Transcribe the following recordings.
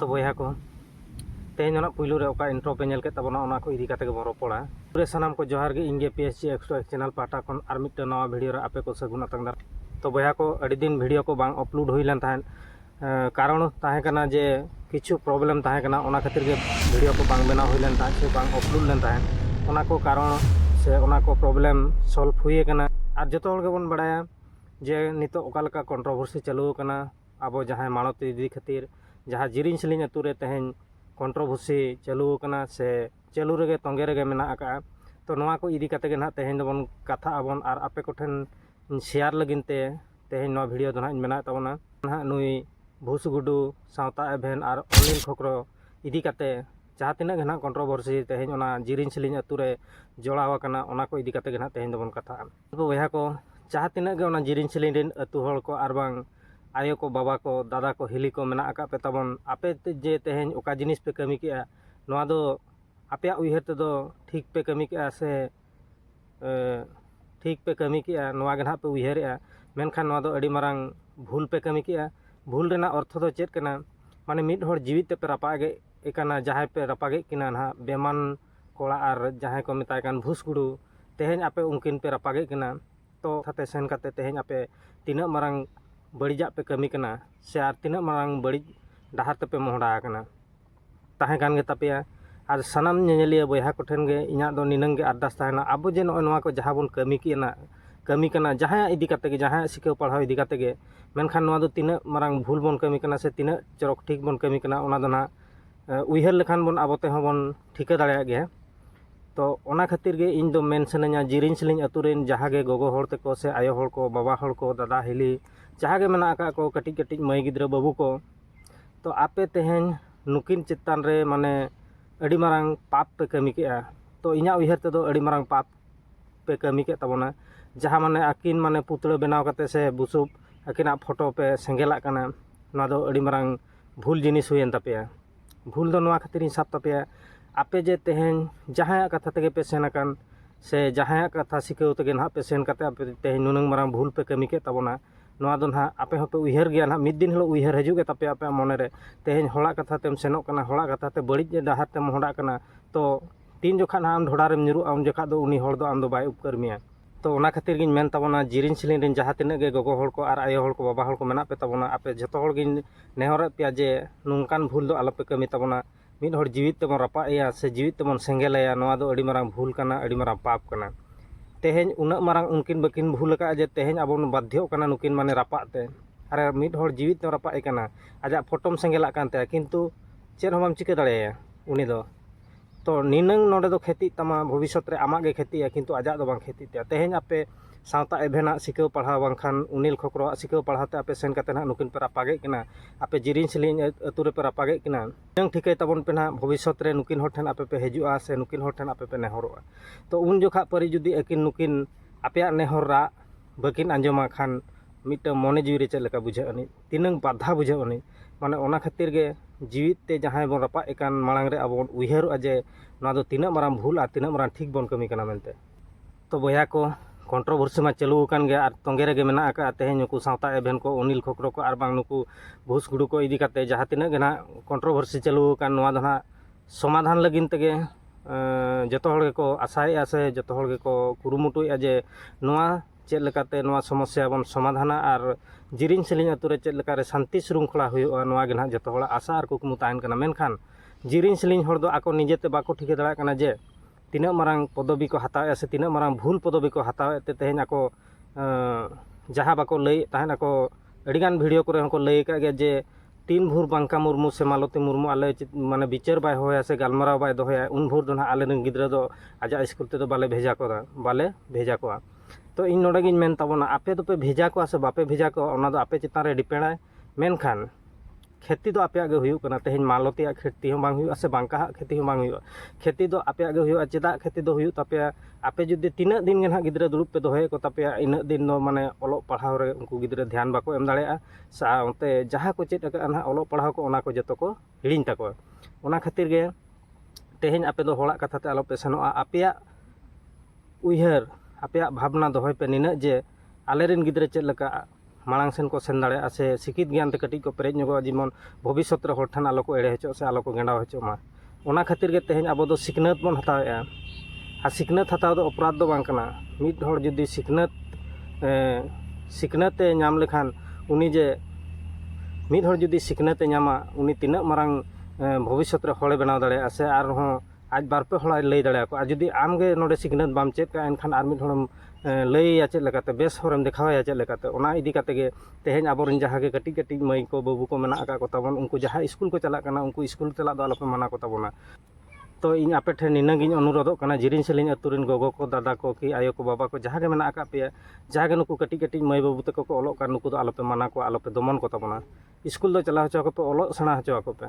ᱛᱚ ᱵᱚᱭᱦᱟ ᱠᱚ ᱛᱮᱦᱮᱧ ᱱᱟᱜ ᱯᱩᱭᱞᱩ ᱨᱮ ᱚᱠᱟ ᱤᱱᱴᱨᱳ ᱯᱮ ᱧᱮᱞ ᱠᱮᱫ ᱛᱟᱵᱚᱱᱟ ᱚᱱᱟ ᱠᱚ ᱤᱫᱤ ᱠᱟᱛᱮ ᱜᱮᱵᱚᱱ ᱨᱚᱯᱚᱲᱟ ᱯᱩᱨᱟᱹ ᱥᱟᱱᱟᱢ ᱠᱚ ᱡᱚᱦᱟᱨ ᱜᱮ ᱤᱧ ᱜᱮ P S G extra X channel ᱯᱟᱦᱴᱟ ᱠᱷᱚᱱ ᱟᱨ ᱢᱤᱫᱴᱮᱱ ᱱᱟᱣᱟ ᱵᱷᱤᱰᱤᱭᱳ ᱨᱮ ᱟᱯᱮ ᱠᱚ ᱥᱟᱹᱜᱩᱱ ᱟᱛᱟᱝ ᱫᱟᱨᱟᱢ ᱛᱚ ᱵᱚᱭᱦᱟ ᱠᱚ ᱟᱹᱰᱤ ᱫᱤᱱ ᱵᱷᱤᱰᱤᱭᱳ ᱠᱚ ᱵᱟᱝ ᱟᱯᱞᱳᱰ ᱦᱩᱭ ᱞᱮᱱ ᱛᱟᱦᱮᱸᱫ ᱠᱟᱨᱚᱱ ᱛᱟᱦᱮᱸ ᱠᱟᱱᱟ ᱡᱮ ᱠᱤᱪᱷᱩ ᱯᱨᱚᱵᱞᱮᱢ ᱛᱟᱦᱮᱸ ᱠᱟᱱᱟ ᱚᱱᱟ ᱠᱷᱟᱹᱛᱤᱨ ᱜᱮ ᱵᱷᱤᱰᱤᱭᱳ ᱠᱚ ᱵᱟᱝ ᱵᱮᱱᱟᱣ ᱦᱩᱭ ᱞᱮᱱ ᱛᱟᱦᱮᱸᱫ ᱥᱮ ᱵᱟᱝ ᱟᱯᱞᱳᱰ ᱞᱮᱱ ᱛᱟᱦᱮᱸᱫ ᱚᱱᱟ ᱠᱚ ᱠᱟᱨᱚᱱ ᱥᱮ ᱚᱱᱟ ᱠᱚ ᱯᱨᱚᱵᱞᱮᱢ ᱥᱚᱞᱵᱷ ᱦᱩᱭ ᱟᱠᱟᱱᱟ ᱟᱨ ᱡᱚᱛᱚ ᱦᱚᱲ ᱜᱮᱵᱚᱱ ᱵᱟᱲᱟᱭᱟ ᱡᱮ ᱱᱤᱛᱚᱜ ᱚᱠᱟ ᱞᱮᱠᱟ ᱠᱚᱱᱴᱨᱚᱵᱷᱟᱨᱥᱤ ᱪᱟᱹᱞᱩ ᱟᱠᱟᱱᱟ ᱟᱵᱚ ᱡᱟᱦᱟᱸᱭ ᱢᱟᱬᱚᱛᱤ ᱤᱫᱤ ᱠᱷᱟᱹᱛᱤᱨ ᱡᱟᱦᱟᱸ ᱡᱤᱞᱤᱧ ᱥᱟᱺᱜᱤᱧ ᱟᱛᱳ ᱨᱮ ᱛᱮᱦᱮᱧ ᱠᱚᱱᱴᱨᱚᱵᱷᱚᱨᱥᱤ ᱪᱟᱹᱞᱩ ᱟᱠᱟᱱᱟ ᱥᱮ ᱪᱟᱹᱞᱩ ᱨᱮᱜᱮ ᱛᱚᱸᱜᱮ ᱨᱮᱜᱮ ᱢᱮᱱᱟᱜ ᱟᱠᱟᱫᱼᱟ ᱛᱚ ᱱᱚᱣᱟ ᱠᱚ ᱤᱫᱤ ᱠᱟᱛᱮᱫ ᱜᱮ ᱱᱟᱦᱟᱜ ᱛᱮᱦᱮᱧ ᱫᱚᱵᱚᱱ ᱠᱟᱛᱷᱟᱜ ᱟᱵᱚᱱ ᱟᱨ ᱟᱯᱮ ᱠᱚᱴᱷᱮᱱ ᱥᱮᱭᱟᱨ ᱞᱟᱹᱜᱤᱫ ᱛᱮ ᱛᱮᱦᱮᱧ ᱱᱚᱣᱟ ᱵᱷᱤᱰᱭᱳ ᱫᱚ ᱱᱟᱦᱟᱜ ᱤᱧ ᱵᱮᱱᱟᱣᱮᱫ ᱛᱟᱵᱚᱱᱟ ᱱᱟᱦᱟᱜ ᱱᱩᱭ ᱵᱷᱩᱥ ᱜᱩᱰᱩ ᱥᱟᱶᱛᱟ ᱮᱵᱷᱮᱱ ᱟᱨ ᱚᱱᱤᱞ ᱠᱷᱚᱠᱨᱚ ᱤᱫᱤ ᱠᱟᱛᱮᱫ ᱡᱟᱦᱟᱸ ᱛᱤᱱᱟᱹᱜ ᱜᱮ ᱱᱟᱦᱟᱜ ᱠᱚᱱᱴᱨᱚᱵᱷᱚᱨᱥᱤ ᱛᱮᱦᱮᱧ ᱚᱱᱟ ᱡᱤᱞᱤᱧ ᱥᱟᱺᱜᱤᱧ ᱟᱛᱳ ᱨᱮ ᱡᱚᱲᱟᱣ ᱟᱠᱟᱱᱟ ᱚᱱᱟ ᱠᱚ ᱤᱫᱤ ᱠᱟᱛᱮᱫ ᱜᱮ ᱱᱟᱦᱟᱜ ᱛᱮᱦᱮᱧ ᱫᱚᱵᱚᱱ ᱠᱟᱛᱷᱟᱜᱼᱟ ᱵᱚᱭᱦᱟ ᱠᱚ ᱡᱟᱦᱟᱸ ᱛᱤᱱᱟᱹᱜ ᱜᱮ ᱚᱱᱟ ᱡᱤᱞᱤᱧ ᱥᱟᱹᱞᱤᱧ ᱨᱮᱱ ᱟᱹᱛᱩ ᱦᱚᱲ ᱠᱚ ᱟᱨ ᱵᱟᱝ ᱟᱭᱳ ᱠᱚ ᱵᱟᱵᱟ ᱠᱚ ᱫᱟᱫᱟ ᱠᱚ ᱦᱤᱞᱤ ᱠᱚ ᱢᱮᱱᱟᱜ ᱟᱠᱟᱫ ᱯᱮ ᱛᱟᱵᱚᱱ ᱟᱯᱮ ᱡᱮ ᱛᱮᱦᱮᱧ ᱚᱠᱟ ᱡᱤᱱᱤᱥ ᱯᱮ ᱠᱟᱹᱢᱤ ᱠᱮᱜᱼᱟ ᱱᱚᱣᱟ ᱫᱚ ᱟᱯᱮᱭᱟᱜ ᱩᱭᱦᱟᱹᱨ ᱛᱮᱫᱚ ᱴᱷᱤᱠ ᱯᱮ ᱠᱟᱹᱢᱤ ᱠᱮᱜᱼᱟ ᱥᱮ ᱴᱷᱤᱠ ᱯᱮ ᱠᱟᱹᱢᱤ ᱠᱮᱜᱼᱟ ᱱᱚᱣᱟ ᱜᱮ ᱱᱟᱦᱟᱜ ᱯᱮ ᱩᱭᱦᱟᱹᱨᱮᱜᱼᱟ ᱢᱮᱱᱠᱷᱟᱱ ᱱᱚᱣᱟ ᱫᱚ ᱟᱹᱰᱤ ᱢᱟᱨᱟᱝ ᱵᱷᱩᱞ ᱯᱮ ᱠᱟᱹᱢᱤ ᱠᱮᱜᱼᱟ ᱵᱷᱩᱞ ᱨᱮᱱᱟᱜ ᱚᱨᱛᱷᱚ ᱫᱚ ᱪᱮᱫ ᱠᱟᱱᱟ ᱢᱟᱱᱮ ᱢᱤᱫ ᱦᱚᱲ ᱡᱤᱣᱤ ᱛᱮᱯᱮ ᱨᱟᱯᱟᱜᱮᱜ ᱮ ᱠᱟᱱᱟ ᱡᱟᱦᱟᱸᱭ ᱯᱮ ᱨᱟᱯᱟᱜᱮᱜ ᱠᱤᱱᱟ ᱱᱟᱦᱟᱜ ᱵᱮᱼᱢᱟᱱ ᱠᱚᱲᱟ ᱟᱨ ᱡᱟᱦᱟᱸᱭ ᱠᱚ ᱢᱮᱛᱟᱭ ᱠᱟᱱ ᱵᱷᱩᱥ ᱜᱩᱰᱩ ᱛᱮᱦᱮᱧ ᱟᱯᱮ ᱩᱱᱠᱤᱱ ᱯᱮ ᱨᱟᱯᱟᱜᱮᱫ ᱠᱤᱱᱟ ᱛᱚ ᱠᱟᱛᱮ ᱥᱮᱱ ᱠᱟᱛᱮ ᱛᱮᱦᱮᱧ ᱟᱯᱮ ᱛᱤᱱᱟᱹᱜ ᱢᱟᱨᱟᱝ ᱵᱟᱹᱲᱤᱡᱟᱜ ᱯᱮ ᱠᱟᱹᱢᱤ ᱠᱟᱱᱟ ᱥᱮ ᱟᱨ ᱛᱤᱱᱟᱹᱜ ᱢᱟᱨᱟᱝ ᱵᱟᱹᱲᱤᱡ ᱰᱟᱦᱟᱨ ᱛᱮᱯᱮ ᱢᱚᱦᱰᱟ ᱟᱠᱟᱱᱟ ᱛᱟᱦᱮᱸ ᱠᱟᱱ ᱜᱮᱛᱟ ᱯᱮᱭᱟ ᱟᱨ ᱥᱟᱱᱟᱢ ᱧᱮᱧᱮᱞᱤᱭᱟᱹ ᱵᱚᱭᱦᱟ ᱠᱚᱴᱷᱮᱱ ᱜᱮ ᱤᱧᱟᱹᱜ ᱫᱚ ᱱᱤᱱᱟᱹᱝ ᱜᱮ ᱟᱨᱫᱟᱥ ᱛᱟᱦᱮᱱᱟ ᱟᱵᱚ ᱡᱮ ᱱᱚᱜᱼᱚᱭ ᱱᱚᱣᱟ ᱠᱚ ᱡᱟᱦᱟᱸ ᱵᱚᱱ ᱠᱟᱹᱢᱤ ᱠᱟᱱᱟ ᱠᱟᱹᱢᱤ ᱠᱟᱱᱟ ᱡᱟᱦᱟᱸᱭᱟᱜ ᱤᱫᱤ ᱠᱟᱛᱮ ᱜᱮ ᱡᱟᱦᱟᱸᱭᱟᱜ ᱥᱤᱠᱷᱟᱹᱣ ᱯᱟᱲᱦᱟᱣ ᱤᱫᱤ ᱠᱟᱛᱮ ᱜᱮ ᱢᱮᱱᱠᱷᱟᱱ ᱱᱚᱣᱟ ᱫᱚ ᱛᱤᱱᱟᱹᱜ ᱢᱟᱨᱟᱝ ᱵᱷᱩᱞ ᱵᱚᱱ ᱠᱟᱹᱢᱤ ᱠᱟᱱᱟ ᱥᱮ ᱛᱤᱱᱟᱹᱜ ᱪᱚᱨᱚᱠ ᱴᱷᱤᱠ ᱵᱚᱱ ᱠᱟᱹᱢᱤ ᱠᱟᱱᱟ ᱚᱱᱟ ᱫᱚ ᱱᱟᱜ ᱩᱭᱦᱟᱹᱨ ᱞᱮᱠᱷᱟᱱ ᱵᱚᱱ ᱟᱵᱚ ᱛᱮᱦᱚᱸ ᱵᱚᱱ ᱴᱷᱤᱠᱟᱹ ᱫᱟᱲᱮᱭᱟᱜ ᱜᱮᱭᱟ ᱛᱚ ᱚᱱᱟ ᱠᱷᱟᱹᱛᱤᱨ ᱜᱮ ᱤᱧ ᱫᱚ ᱢᱮᱱ ᱥᱟᱱᱟᱧᱟ ᱡᱤᱞᱤᱧ ᱥᱟᱹᱞᱤᱧ ᱟᱛᱳ ᱨᱮᱱ ᱡᱟᱦᱟᱸ ᱜᱮ ᱜᱚᱜᱚ ᱦᱚᱲ ᱛᱟᱠᱚ ᱥᱮ ᱟᱭᱳ ᱦᱚᱲ ᱠᱚ ᱵᱟᱵᱟ ᱦᱚᱲ ᱠᱚ ᱫᱟᱫᱟ ᱦᱤᱞᱤ ᱡᱟᱦᱟᱸ ᱜᱮ ᱢᱮᱱᱟᱜ ᱟᱠᱟᱫ ᱠᱚ ᱠᱟᱹᱴᱤᱡ ᱠᱟᱹᱴᱤᱡ ᱢᱟᱹᱭ ᱜᱤᱫᱽᱨᱟᱹ ᱵᱟᱹᱵᱩ ᱠᱚ ᱛᱚ ᱟᱯᱮ ᱛᱮᱦᱮᱧ ᱱᱩᱠᱤᱱ ᱪᱮᱛᱟᱱ ᱨᱮ ᱢᱟᱱᱮ ᱟᱹᱰᱤ ᱢᱟᱨᱟᱝ ᱯᱟᱯ ᱯᱮ ᱠᱟᱹᱢᱤ ᱠᱮᱜᱼᱟ ᱛᱚ ᱤᱧᱟᱹᱜ ᱩᱭᱦᱟᱹᱨ ᱛᱮᱫᱚ ᱟᱹᱰᱤ ᱢᱟᱨᱟᱝ ᱯᱟᱯ ᱯᱮ ᱠᱟᱹᱢᱤ ᱠᱮᱫ ᱛᱟᱵᱚᱱᱟ ᱡᱟᱦᱟᱸ ᱢᱟᱱᱮ ᱟᱹᱠᱤᱱ ᱢᱟᱱᱮ ᱯᱩᱛᱲᱟᱹ ᱵᱮᱱᱟᱣ ᱠᱟᱛᱮ ᱥᱮ ᱵᱩᱥᱩᱵ ᱟᱹᱠᱤᱱᱟᱜ ᱯᱷᱳᱴᱳ ᱯᱮ ᱥᱮᱸᱜᱮᱞᱟᱜ ᱠᱟᱱᱟ ᱱᱚᱣᱟ ᱫᱚ ᱟᱹᱰᱤ ᱢᱟᱨᱟᱝ ᱵᱷᱩᱞ ᱡᱤᱱᱤᱥ ᱦᱩᱭᱮᱱ ᱛᱟᱯᱮᱭᱟ ᱵᱷᱩᱞ ᱫᱚ ᱱᱚᱣᱟ ᱠᱷᱟᱹᱛᱤᱨᱤᱧ ᱥᱟᱵ ᱛᱟᱯᱮᱭᱟ ᱟᱯᱮ ᱡᱮ ᱛᱮᱦᱮᱧ ᱡᱟᱦᱟᱸᱭᱟᱜ ᱠᱟᱛᱷᱟ ᱛᱮᱜᱮ ᱯᱮ ᱥᱮᱱ ᱟᱠᱟᱱ ᱥᱮ ᱡᱟᱦᱟᱸᱭᱟᱜ ᱠᱟᱛᱷᱟ ᱥᱤᱠᱟᱹᱣ ᱛᱮᱜᱮ ᱱᱟᱦᱟᱜ ᱯᱮ ᱥᱮᱱ ᱠᱟᱛᱮ ᱟᱯᱮ ᱛᱮᱦᱮᱧ ᱱᱩᱱᱟᱹᱝ ᱢᱟᱨᱟᱝ ᱵᱷᱩᱞ ᱯᱮ ᱠᱟᱹᱢᱤ ᱠᱮᱫ ᱛᱟᱵᱚᱱᱟ ᱱᱚᱣᱟ ᱫᱚ ᱱᱟᱦᱟᱜ ᱟᱯᱮ ᱦᱚᱸᱯᱮ ᱩᱭᱦᱟᱹᱨ ᱜᱮᱭᱟ ᱱᱟᱦᱟᱜ ᱢᱤᱫ ᱫᱤᱱ ᱦᱤᱞᱳᱜ ᱩᱭᱦᱟᱹᱨ ᱦᱤᱡᱩᱜ ᱜᱮᱛᱟᱯᱮᱭᱟ ᱟᱯᱮᱭᱟᱜ ᱢᱚᱱᱮ ᱨᱮ ᱛᱮᱦᱮᱧ ᱦᱚᱲᱟᱜ ᱠᱟᱛᱷᱟ ᱛᱮᱢ ᱥᱮᱱᱚᱜ ᱠᱟᱱᱟ ᱦᱚᱲᱟᱜ ᱠᱟᱛᱷᱟ ᱛᱮ ᱵᱟᱹᱲᱤᱡ ᱰᱟᱦᱟᱨ ᱛᱮ ᱢᱚᱦᱰᱟᱜ ᱠᱟᱱᱟ ᱛᱚ ᱛᱤᱱ ᱡᱚᱠᱷᱟᱱ ᱱᱟᱦᱟᱜ ᱟᱢ ᱰᱷᱚᱰᱟ ᱨᱮᱢ ᱧᱩᱨᱩᱜᱼᱟ ᱩᱱ ᱡᱚᱠᱷᱟᱱ ᱫᱚ ᱩᱱᱤ ᱦᱚᱲ ᱫᱚ ᱟᱢ ᱫᱚ ᱵᱟᱭ ᱩᱯᱠᱟᱹᱨ ᱢᱮᱭᱟ ᱛᱚ ᱚᱱᱟ ᱠᱷᱟᱹᱛᱤᱨ ᱜᱤᱧ ᱢᱮᱱ ᱛᱟᱵᱚᱱᱟ ᱡᱤᱞᱤᱧ ᱥᱟᱺᱜᱤᱧ ᱨᱮᱱ ᱡᱟᱦᱟᱸ ᱛᱤᱱᱟᱹᱜ ᱜᱮ ᱜᱚᱜᱚ ᱦᱚᱲ ᱠᱚ ᱟᱨ ᱟᱭᱳ ᱦᱚᱲ ᱠᱚ ᱵᱟᱵᱟ ᱦᱚᱲ ᱠᱚ ᱢᱮᱱᱟᱜ ᱯᱮ ᱛᱟᱵᱚᱱᱟ ᱟᱯᱮ ᱡᱷᱚᱛᱚ ᱦᱚᱲ ᱜᱤᱧ ᱱᱮᱦᱚᱨᱮᱫ ᱯᱮᱭᱟ ᱡᱮ ᱱᱚᱝᱠᱟᱱ ᱵᱷᱩᱞ ᱫᱚ ᱟᱞᱚ ᱯᱮ ᱠᱟᱹᱢᱤ ᱛᱟᱵᱚᱱᱟ ᱢᱤᱫ ᱦᱚᱲ ᱡᱤᱣᱮᱫ ᱛᱮᱵᱚᱱ ᱨᱟᱯᱟᱜ ᱮᱭᱟ ᱥᱮ ᱡᱤᱣᱮᱫ ᱛᱮᱵᱚᱱ ᱥᱮᱸᱜᱮᱞ ᱟᱭᱟ ᱱᱚᱣᱟ ᱫᱚ ᱟᱹᱰᱤ ᱢᱟᱨᱟᱝ ᱵᱷᱩᱞ ᱠᱟᱱᱟ ᱟᱹᱰᱤ ᱢᱟᱨᱟᱝ ᱯᱟᱯ ᱠᱟᱱᱟ ᱛᱮᱦᱮᱧ ᱩᱱᱟᱹᱜ ᱢᱟᱨᱟᱝ ᱩᱱᱠᱤᱱ ᱵᱟᱹᱠᱤᱱ ᱵᱷᱩᱞ ᱟᱠᱟᱫᱼᱟ ᱡᱮ ᱛᱮᱦᱮᱧ ᱟᱵᱚ ᱵᱚᱱ ᱵᱟᱫᱽᱫᱷᱚᱜ ᱠᱟᱱᱟ ᱱᱩᱠᱤᱱ ᱢᱟᱱᱮ ᱨᱟᱯᱟᱜ ᱛᱮ ᱟᱨ ᱢᱤᱫ ᱦᱚᱲ ᱡᱤᱣᱮᱫ ᱛᱮᱢ ᱨᱟᱯᱟᱜ ᱮ ᱠᱟᱱᱟ ᱟᱡᱟᱜ ᱯᱷᱳᱴᱳᱢ ᱥᱮᱸᱜᱮᱞᱟᱜ ᱠᱟᱱ ᱛᱟᱭᱟ ᱠᱤᱱᱛᱩ ᱪᱮᱫ ᱦᱚᱸ ᱵᱟᱢ ᱪᱤᱠᱟᱹ ᱫᱟᱲᱮᱭᱟᱭᱟ ᱩᱱᱤ ᱫᱚ ᱛᱚ ᱱᱤᱱᱟᱹᱝ ᱱᱚᱰᱮ ᱫᱚ ᱠᱷᱮᱛᱤᱜ ᱛᱟᱢᱟ ᱵᱷᱚᱵᱤᱥᱚᱛ ᱨᱮ ᱟᱢᱟᱜ ᱜᱮ ᱠᱷᱮᱛᱤᱜᱼᱟ ᱠᱤᱱᱛᱩ ᱟᱡᱟᱜ ᱫᱚ ᱵᱟᱝ ᱠᱷᱮᱛᱤᱜ ᱛᱟᱭᱟ ᱛᱮᱦᱮᱧ ᱟᱯᱮ ᱥᱟᱶᱛᱟ ᱮᱵᱷᱮᱱ ᱟᱜ ᱥᱤᱠᱟᱹᱣ ᱯᱟᱲᱦᱟᱣ ᱵᱟᱝᱠᱷᱟᱱ ᱚᱱᱤᱞ ᱠᱷᱚᱠᱨᱚ ᱟᱜ ᱥᱤᱠᱟᱹᱣ ᱯᱟᱲᱦᱟᱣ ᱛᱮ ᱟᱯᱮ ᱥᱮᱱ ᱠᱟᱛᱮ ᱱᱟᱜ ᱱᱩᱠᱤᱱ ᱯᱮ ᱨᱟᱯᱟᱜᱮᱫ ᱠᱤᱱᱟ ᱟᱯᱮ ᱡᱤᱞᱤᱧ ᱥᱟᱹᱞᱤᱧ ᱟᱛᱳ ᱨᱮᱯᱮ ᱨᱟᱯᱟᱜᱮᱫ ᱠᱤᱱᱟ ᱢᱤᱫᱴᱟᱝ ᱴᱷᱤᱠᱟᱹᱭ ᱛᱟᱵᱚᱱ ᱯᱮ ᱱᱟᱜ ᱵᱷᱚᱵᱤᱥᱚᱛ ᱨᱮ ᱱᱩᱠᱤᱱ ᱦᱚᱲ ᱴᱷᱮᱱ ᱟᱯᱮ ᱯᱮ ᱦᱤᱡᱩᱜᱼᱟ ᱥᱮ ᱱᱩᱠᱤᱱ ᱦᱚᱲ ᱴᱷᱮᱱ ᱟᱯᱮ ᱯᱮ ᱱᱮᱦᱚᱨᱚᱜᱼᱟ ᱛᱚ ᱩᱱ ᱡᱚᱠᱷᱟᱜ ᱯᱟᱹᱨᱤ ᱡᱩᱫᱤ ᱟᱹᱠᱤᱱ ᱱᱩᱠᱤᱱ ᱟᱯᱮᱭᱟᱜ ᱱᱮᱦᱚᱨ ᱨᱟᱜ ᱵᱟᱹᱠᱤᱱ ᱟᱸᱡᱚᱢᱟ ᱠᱷᱟᱱ ᱢᱤᱫᱴᱟᱝ ᱢᱚᱱᱮ ᱡᱤᱣᱤ ᱨᱮ ᱪᱮᱫ ᱞᱮᱠᱟ ᱵᱩᱡᱷᱟᱹᱜ ᱟᱹᱱᱤᱡ ᱛᱤᱱᱟᱹᱝ ᱵᱟᱫᱷᱟ ᱵᱩᱡᱷᱟᱹᱜ ᱟᱹᱱᱤᱡ ᱢᱟᱱᱮ ᱚᱱᱟ ᱠᱷᱟᱹᱛᱤᱨ ᱜᱮ ᱡᱤᱣᱤᱫ ᱛᱮ ᱡᱟᱦᱟᱸᱭ ᱵᱚᱱ ᱨᱟᱯᱟᱜ ᱮ ᱠᱟᱱ ᱢᱟᱲᱟᱝ ᱨᱮ ᱟᱵᱚ ᱵᱚᱱ ᱩᱭᱦᱟᱹᱨᱚᱜᱼᱟ ᱡᱮ ᱱᱚᱣᱟ ᱫᱚ ᱛᱤᱱᱟᱹᱜ ᱢᱟᱨᱟᱝ ᱵᱷᱩᱞ ᱟᱨ ᱛᱤᱱᱟᱹᱜ ᱢᱟᱨᱟᱝ ᱴᱷᱤᱠ ᱵᱚᱱ ᱠᱟᱹᱢᱤ ᱠᱟᱱᱟ ᱢᱮᱱᱛᱮ ᱛᱚ ᱵᱚᱭᱦᱟ ᱠᱚ ᱠᱚᱱᱴᱨᱚᱵᱷᱚᱨᱥᱤ ᱢᱟ ᱪᱟᱹᱞᱩ ᱟᱠᱟᱱ ᱜᱮᱭᱟ ᱟᱨ ᱛᱚᱸᱜᱮ ᱨᱮᱜᱮ ᱢᱮᱱᱟᱜ ᱟᱠᱟᱫᱼᱟ ᱛᱮᱦᱮᱧ ᱱᱩᱠᱩ ᱥᱟᱶᱛᱟ ᱮᱵᱷᱮᱱ ᱠᱚ ᱚᱱᱤᱞ ᱠᱷᱚᱠᱨᱚ ᱠᱚ ᱟᱨ ᱵᱟᱝ ᱱᱩᱠᱩ ᱜᱷᱩᱥ ᱜᱩᱰᱩ ᱠᱚ ᱤᱫᱤ ᱠᱟᱛᱮᱫ ᱡᱟᱦᱟᱸ ᱛᱤᱱᱟᱹᱜ ᱜᱮ ᱱᱟᱦᱟᱜ ᱠᱚᱱᱴᱨᱚᱵᱷᱚᱨᱥᱤ ᱪᱟᱹᱞᱩ ᱟᱠᱟᱱ ᱱᱚᱣᱟ ᱫᱚ ᱱᱟᱦᱟᱜ ᱥᱚᱢᱟᱫᱷᱟᱱ ᱞᱟᱹᱜᱤᱫ ᱛᱮᱜᱮ ᱡᱚᱛᱚ ᱦᱚᱲ ᱜᱮᱠᱚ ᱟᱥᱟᱭᱮᱫᱼᱟ ᱥᱮ ᱡᱚᱛᱚ ᱦᱚᱲ ᱜᱮᱠᱚ ᱠᱩᱨᱩᱢᱩᱴᱩᱭᱮᱫᱼᱟ ᱡᱮ ᱱᱚᱣᱟ ᱪᱮᱫ ᱞᱮᱠᱟᱛᱮ ᱱᱚᱣᱟ ᱥᱚᱢᱚᱥᱥᱟ ᱵᱚᱱ ᱥᱚᱢᱟᱫᱷᱟᱱᱟ ᱟᱨ ᱡᱤᱞᱤᱧ ᱥᱟᱺᱜᱤᱧ ᱟᱛᱳ ᱨᱮ ᱪᱮᱫ ᱞᱮᱠᱟᱨᱮ ᱥᱟᱱᱛᱤ ᱥᱨᱤᱝᱠᱷᱚᱞᱟ ᱦᱩᱭᱩᱜᱼᱟ ᱱᱚᱣᱟ ᱜᱮ ᱦᱟᱸᱜ ᱡᱚᱛᱚ ᱦᱚᱲᱟᱜ ᱟᱥᱟ ᱟᱨ ᱠᱩᱠᱢᱩ ᱛᱟᱦᱮᱱ ᱠᱟᱱᱟ ᱢᱮᱱᱠᱷᱟᱱ ᱡᱤᱞᱤᱧ ᱥᱟᱺᱜᱤᱧ ᱦᱚᱲ ᱫᱚ ᱟᱠᱚ ᱱᱤᱡᱮᱛᱮ ᱵᱟᱠᱚ ᱴᱷᱤᱠᱟᱹ ᱫᱟᱲᱮᱭᱟᱜ ᱠᱟᱱᱟ ᱡᱮ ᱛᱤᱱᱟᱹᱜ ᱢᱟᱨᱟᱝ ᱯᱚᱫᱚᱵᱤ ᱠᱚ ᱦᱟᱛᱟᱣᱮᱜᱼᱟ ᱥᱮ ᱛᱤᱱᱟᱹᱜ ᱢᱟᱨᱟᱝ ᱵᱷᱩᱞ ᱯᱚᱫᱚᱵᱤ ᱠᱚ ᱦᱟᱛᱟᱣᱮᱜ ᱛᱮ ᱛᱮᱦᱮᱧ ᱟᱠᱚ ᱡᱟᱦᱟᱸ ᱵᱟᱠᱚ ᱞᱟᱹᱭᱮᱜ ᱛᱟᱦᱮᱱ ᱟᱠᱚ ᱟᱹᱰᱤᱜᱟᱱ ᱵᱷᱤᱰᱭᱳ ᱠᱚᱨᱮ ᱦᱚᱸᱠᱚ ᱞᱟᱹᱭ ᱠᱟᱜ ᱜᱮᱭᱟ ᱡᱮ ᱛᱤᱱ ᱵᱷᱳᱨ ᱵᱟᱝᱠᱟ ᱢᱩᱨᱢᱩ ᱥᱮ ᱢᱟᱞᱚᱛᱤ ᱢᱩᱨᱢᱩ ᱟᱞᱮ ᱢᱟᱱᱮ ᱵᱤᱪᱟᱹᱨ ᱵᱟᱭ ᱦᱚᱦᱚᱭᱟ ᱥᱮ ᱜᱟᱞᱢᱟᱨᱟᱣ ᱵᱟᱭ ᱫᱚᱦᱚᱭᱟ ᱩᱱ ᱵᱷᱳᱨ ᱫᱚ ᱱᱟᱦᱟᱜ ᱟᱞᱮ ᱨᱮᱱ ᱜᱤᱫᱽᱨᱟᱹ ᱫᱚ ᱟᱡᱟᱜ ᱤᱥᱠᱩᱞ ᱛᱮᱫᱚ ᱵᱟᱞᱮ ᱵᱷᱮᱡᱟ ᱠᱚᱣᱟ ᱵᱟᱞᱮ ᱵᱷᱮᱡᱟ ᱠᱚᱣᱟ ᱛᱚ ᱤᱧ ᱱᱚᱰᱮ ᱜᱤᱧ ᱢᱮᱱ ᱛᱟᱵᱚᱱᱟ ᱟᱯᱮ ᱫᱚᱯᱮ ᱵᱷᱮᱡᱟ ᱠᱚᱣᱟ ᱥᱮ ᱵᱟᱯᱮ ᱵᱷᱮᱡᱟ ᱠᱚᱣᱟ ᱚᱱᱟ ᱫᱚ ᱟᱯᱮ ᱪᱮᱛᱟᱱ ᱨᱮ ᱰᱤᱯᱮᱱᱰ ᱟᱭ ᱢᱮᱱᱠᱷᱟᱱ ᱠᱷᱮᱛᱤ ᱫᱚ ᱟᱯᱮᱭᱟᱜ ᱜᱮ ᱦᱩᱭᱩᱜ ᱠᱟᱱᱟ ᱛᱮᱦᱮᱧ ᱢᱟᱞᱚᱛᱤᱭᱟᱜ ᱠᱷᱮᱛᱤ ᱦᱚᱸ ᱵᱟᱝ ᱦᱩᱭᱩᱜᱼᱟ ᱥᱮ ᱵᱟᱝᱠᱟ ᱦᱟᱜ ᱠᱷᱮᱛᱤ ᱦᱚᱸ ᱵᱟᱝ ᱦᱩᱭᱩᱜᱼᱟ ᱠᱷᱮᱛᱤ ᱫᱚ ᱟᱯᱮᱭᱟᱜ ᱜᱮ ᱦᱩᱭᱩᱜᱼᱟ ᱪᱮᱫᱟᱜ ᱠᱷᱮᱛᱤ ᱫᱚ ᱦᱩᱭᱩᱜ ᱛᱟᱯᱮᱭᱟ ᱟᱯᱮ ᱡᱩᱫᱤ ᱛᱤᱱᱟᱹᱜ ᱫᱤᱱ ᱜᱮ ᱱᱟᱦᱟᱜ ᱜᱤᱫᱽᱨᱟᱹ ᱫᱩᱲᱩᱵ ᱯᱮ ᱫᱚᱦᱚᱭᱮᱫ ᱠᱚᱛᱟ ᱯᱮᱭᱟ ᱤᱱᱟᱹᱜ ᱫᱤᱱ ᱫᱚ ᱢᱟᱱᱮ ᱚᱞᱚᱜ ᱯᱟᱲᱦᱟᱣ ᱨᱮ ᱩᱱᱠᱩ ᱜᱤᱫᱽᱨᱟᱹ ᱫᱷᱮᱭᱟᱱ ᱵᱟᱠᱚ ᱮᱢ ᱫᱟᱲᱮᱭᱟᱜᱼᱟ ᱥᱟᱶᱛᱮ ᱡᱟᱦᱟᱸ ᱠᱚ ᱪᱮᱫ ᱟᱠᱟᱫᱼᱟ ᱱᱟᱦᱟᱜ ᱚᱞᱚᱜ ᱯᱟᱲᱦᱟᱣ ᱠᱚ ᱚᱱᱟ ᱠᱚ ᱡᱚᱛᱚ ᱠᱚ ᱦᱤᱲᱤᱧ ᱛᱟᱠᱚᱣᱟ ᱚᱱᱟ ᱠᱷᱟᱹᱛᱤᱨ ᱜᱮ ᱛᱮᱦᱮᱧ ᱟᱯᱮ ᱫᱚ ᱦᱚᱲᱟᱜ ᱠᱟᱛᱷᱟ ᱛᱮ ᱟᱞᱚᱯᱮ ᱥᱮᱱᱚᱜᱼᱟ ᱟᱯᱮᱭᱟᱜ ᱩᱭᱦᱟᱹᱨ ᱟᱯᱮᱭᱟᱜ ᱵᱷᱟᱵᱽᱱᱟ ᱫᱚᱦᱚᱭ ᱯᱮ ᱱᱤᱱᱟᱹᱜ ᱡᱮ ᱟᱞᱮ ᱨᱮᱱ ᱜᱤᱫᱽᱨᱟᱹ ᱪᱮᱫ ᱞᱮᱠᱟ ᱢᱟᱲᱟᱝ ᱥᱮᱱ ᱠᱚ ᱥᱮᱱ ᱫᱟᱲᱮᱭᱟᱜᱼᱟ ᱥᱮ ᱥᱤᱠᱠᱷᱤᱛ ᱜᱮᱭᱟᱱ ᱛᱮ ᱠᱟᱹᱴᱤᱡ ᱠᱚ ᱯᱮᱨᱮᱡ ᱧᱚᱜᱚᱜᱼᱟ ᱡᱮᱢᱚᱱ ᱵᱷᱚᱵᱤᱥᱥᱚᱛ ᱨᱮ ᱦᱚᱲ ᱴᱷᱮᱱ ᱟᱞᱚ ᱠᱚ ᱮᱲᱮ ᱦᱚᱪᱚᱜ ᱥᱮ ᱟᱞᱚ ᱠᱚ ᱜᱟᱸᱰᱟᱣ ᱦᱚᱪᱚᱜ ᱢᱟ ᱚᱱᱟ ᱠᱷᱟᱹᱛᱤᱨ ᱜᱮ ᱛᱮᱦᱮᱧ ᱟᱵᱚ ᱫᱚ ᱥᱤᱠᱷᱱᱟᱹᱛ ᱵᱚᱱ ᱦᱟᱛᱟᱣᱮᱜᱼᱟ ᱟᱨ ᱥᱤᱠᱷᱱᱟᱹᱛ ᱦᱟᱛᱟᱣ ᱫᱚ ᱚᱯᱨᱟᱫᱷ ᱫᱚ ᱵᱟᱝ ᱠᱟᱱᱟ ᱢᱤᱫ ᱦᱚᱲ ᱡᱩᱫᱤ ᱥᱤᱠᱷᱱᱟᱹᱛ ᱥᱤᱠᱷᱱᱟᱹᱛᱮ ᱧᱟᱢ ᱞᱮᱠᱷᱟᱱ ᱩᱱᱤ ᱡᱮ ᱢᱤᱫ ᱦᱚᱲ ᱡᱩᱫᱤ ᱥᱤᱠᱷᱱᱟᱹᱛᱮ ᱧᱟᱢᱟ ᱩᱱᱤ ᱛᱤᱱᱟᱹᱜ ᱢᱟᱨᱟᱝ ᱵᱷᱚᱵᱤᱥᱥᱚᱛ ᱨᱮ ᱦᱚᱲᱮ ᱵᱮᱱᱟᱣ ᱫᱟᱲᱮᱭᱟᱜᱼᱟ ᱥᱮ ᱟᱨᱦᱚᱸ ᱟᱡ ᱵᱟᱨ ᱯᱮ ᱦᱚᱲᱮ ᱞᱟᱹᱭ ᱫᱟᱲᱮ ᱟᱠᱚᱣᱟ ᱟᱨ ᱡᱩᱫᱤ ᱟᱢ ᱜᱮ ᱱᱚᱰᱮ ᱥᱤᱠᱷᱱᱟᱹᱛ ᱵᱟᱢ ᱪᱮᱫ ᱠᱟᱜᱼᱟ ᱮᱱᱠᱷᱟᱱ ᱟᱨ ᱢᱤᱫ ᱦᱚᱲᱮᱢ ᱞᱟᱹᱭᱟᱭᱟ ᱪᱮᱫ ᱞᱮᱠᱟᱛᱮ ᱵᱮᱥ ᱦᱚᱨᱮᱢ ᱫᱮᱠᱷᱟᱣ ᱟᱭᱟ ᱪᱮᱫ ᱞᱮᱠᱟᱛᱮ ᱚᱱᱟ ᱤᱫᱤ ᱠᱟᱛᱮ ᱜᱮ ᱛᱮᱦᱮᱧ ᱟᱵᱚ ᱨᱮᱱ ᱡᱟᱦᱟᱸ ᱜᱮ ᱠᱟᱹᱴᱤᱡ ᱠᱟᱹᱴᱤᱡ ᱢᱟᱹᱭ ᱠᱚ ᱵᱟᱹᱵᱩ ᱠᱚ ᱢᱮᱱᱟᱜ ᱟᱠᱟᱫ ᱠᱚ ᱛᱟᱵᱚᱱ ᱩᱱᱠᱩ ᱡᱟᱦᱟᱸ ᱤᱥᱠᱩᱞ ᱠᱚ ᱪᱟᱞᱟᱜ ᱠᱟᱱᱟ ᱩᱱᱠᱩ ᱤᱥᱠᱩᱞ ᱪᱟᱞᱟᱜ ᱫᱚ ᱟᱞᱚᱯᱮ ᱢᱟᱱᱟ ᱠᱚᱛᱟ ᱵᱚᱱᱟ ᱛᱚ ᱤᱧ ᱟᱯᱮ ᱴᱷᱮᱱ ᱱᱤᱱᱟᱹ ᱜᱤᱧ ᱚᱱᱩᱨᱳᱫᱷᱚᱜ ᱠᱟᱱᱟ ᱡᱤᱞᱤᱧ ᱥᱟᱹᱞᱤᱧ ᱟᱹᱛᱩ ᱨᱮᱱ ᱜᱚᱜᱚ ᱠᱚ ᱫᱟᱫᱟ ᱠᱚ ᱠᱤ ᱟᱭᱳ ᱠᱚ ᱵᱟᱵᱟ ᱠᱚ ᱡᱟᱦᱟᱸ ᱜᱮ ᱢᱮᱱᱟᱜ ᱟᱠᱟᱫ ᱯᱮᱭᱟ ᱡᱟᱦᱟᱸ ᱜᱮ ᱱᱩᱠᱩ ᱠᱟᱹᱴᱤᱡ ᱠᱟᱹᱴᱤᱡ ᱢᱟᱹᱭ ᱵᱟᱹᱵᱩ ᱛᱟᱠᱚ ᱠᱚ ᱚᱞᱚᱜ ᱠᱟᱱ ᱱᱩᱠᱩ ᱫᱚ ᱟᱞᱚᱯᱮ ᱢᱟᱱᱟ ᱠᱚᱣᱟ ᱟᱞᱚᱯᱮ ᱫᱚᱢᱚᱱ ᱠᱚᱛᱟ ᱵᱚᱱᱟ ᱤᱥᱠᱩᱞ ᱫᱚ ᱪᱟᱞᱟᱣ ᱦᱚᱪᱚ ᱟᱠᱚ ᱯᱮ ᱚᱞᱚᱜ ᱥᱮᱬᱟ ᱦᱚᱪᱚ ᱟᱠᱚ ᱯᱮ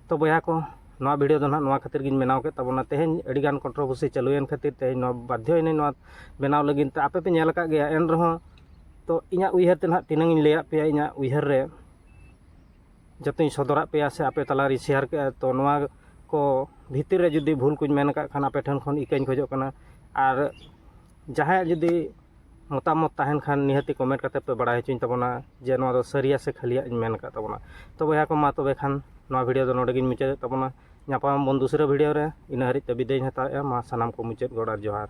ᱛᱚ ᱵᱚᱭᱦᱟ ᱠᱚ ᱱᱚᱣᱟ ᱵᱷᱤᱰᱤᱭᱳ ᱫᱚ ᱱᱟᱦᱟᱜ ᱱᱚᱣᱟ ᱠᱷᱟᱹᱛᱤᱨ ᱜᱤᱧ ᱵᱮᱱᱟᱣ ᱠᱮᱫ ᱛᱟᱵᱚᱱᱟ ᱛᱮᱦᱮᱧ ᱟᱹᱰᱤ ᱜᱟᱱ ᱠᱚᱱᱴᱨᱳᱵᱷᱟᱨᱥᱤ ᱪᱟᱹᱞᱩᱭᱮᱱ ᱠᱷᱟᱹᱛᱤᱨ ᱛᱮᱦᱮᱧ ᱱᱚᱣᱟ ᱵᱟᱫᱽᱫᱷᱚᱭᱮᱱᱟᱹᱧ ᱱᱚᱣᱟ ᱵᱮᱱᱟᱣ ᱞᱟᱹᱜᱤᱫ ᱛᱮ ᱟᱯᱮ ᱯᱮ ᱧᱮᱞ ᱟᱠᱟᱫ ᱜᱮᱭᱟ ᱮᱱ ᱨᱮᱦᱚᱸ ᱛᱚ ᱤᱧᱟᱹᱜ ᱩᱭᱦᱟᱹᱨ ᱛᱮ ᱱᱟᱦᱟᱜ ᱛᱤᱱᱟᱹᱝ ᱤᱧ ᱞᱟᱹᱭᱟᱫ ᱯᱮᱭᱟ ᱤᱧᱟᱹᱜ ᱩᱭᱦᱟᱹᱨ ᱨᱮ ᱡᱚᱛᱚᱧ ᱥᱚᱫᱚᱨᱟᱫ ᱯᱮᱭᱟ ᱥᱮ ᱟᱯᱮ ᱛᱟᱞᱟ ᱨᱤᱧ ᱥᱮᱭᱟᱨ ᱠᱮᱫᱼᱟ ᱛᱚ ᱱᱚᱣᱟ ᱠᱚ ᱵᱷᱤᱛᱤᱨ ᱨᱮ ᱡᱩᱫᱤ ᱵᱷᱩᱞ ᱠᱚᱧ ᱢᱮᱱ ᱟᱠᱟᱫ ᱠᱷᱟᱱ ᱟᱯᱮ ᱴᱷᱮᱱ ᱠᱷᱚᱱ ᱤᱠᱟᱹᱧ ᱠᱷᱚᱡᱚᱜ ᱠᱟᱱᱟ ᱟᱨ ᱡᱟᱦᱟᱸᱭᱟᱜ ᱡᱩᱫᱤ ᱢᱚᱛᱟᱢᱚᱛ ᱛᱟᱦᱮᱱ ᱠᱷᱟᱱ ᱱᱤᱦᱟᱹᱛᱤ ᱠᱚᱢᱮᱱᱴ ᱠᱟᱛᱮᱫ ᱯᱮ ᱵᱟᱲᱟᱭ ᱦᱚᱪᱚᱧ ᱛᱟᱵᱚᱱᱟ ᱡᱮ ᱱᱚᱣᱟ ᱫᱚ ᱥᱟᱹᱨᱤᱭᱟ ᱥᱮ ᱠᱷᱟᱹᱞᱤᱭᱟᱜ ᱤᱧ ᱢᱮᱱ ᱟᱠᱟᱫ ᱛᱟᱵᱚᱱᱟ ᱛᱚ ᱵᱚᱭᱦᱟ ᱠᱚ ᱢᱟ ᱛᱚᱵᱮ ᱠᱷᱟᱱ ᱱᱚᱣᱟ ᱵᱷᱤᱰᱭᱳ ᱫᱚ ᱱᱚᱰᱮ ᱜᱤᱧ ᱢᱩᱪᱟᱹᱫᱮᱫ ᱛᱟᱵᱚᱱᱟ ᱧᱟᱯᱟᱢ ᱟᱵᱚᱱ ᱫᱩᱥᱨᱟᱹ ᱵᱷᱤᱰᱭᱳ ᱨᱮ ᱤᱱᱟᱹ ᱦᱟᱹᱨᱤᱡ ᱛᱮ ᱵᱤᱫᱟᱹᱭ ᱤᱧ ᱦᱟᱛᱟᱣᱮᱫᱼᱟ ᱢᱟ ᱥᱟᱱᱟᱢ ᱠᱚ ᱢᱩᱪᱟᱹᱫ ᱜᱚᱰ ᱟᱨ ᱡᱚᱦᱟᱨ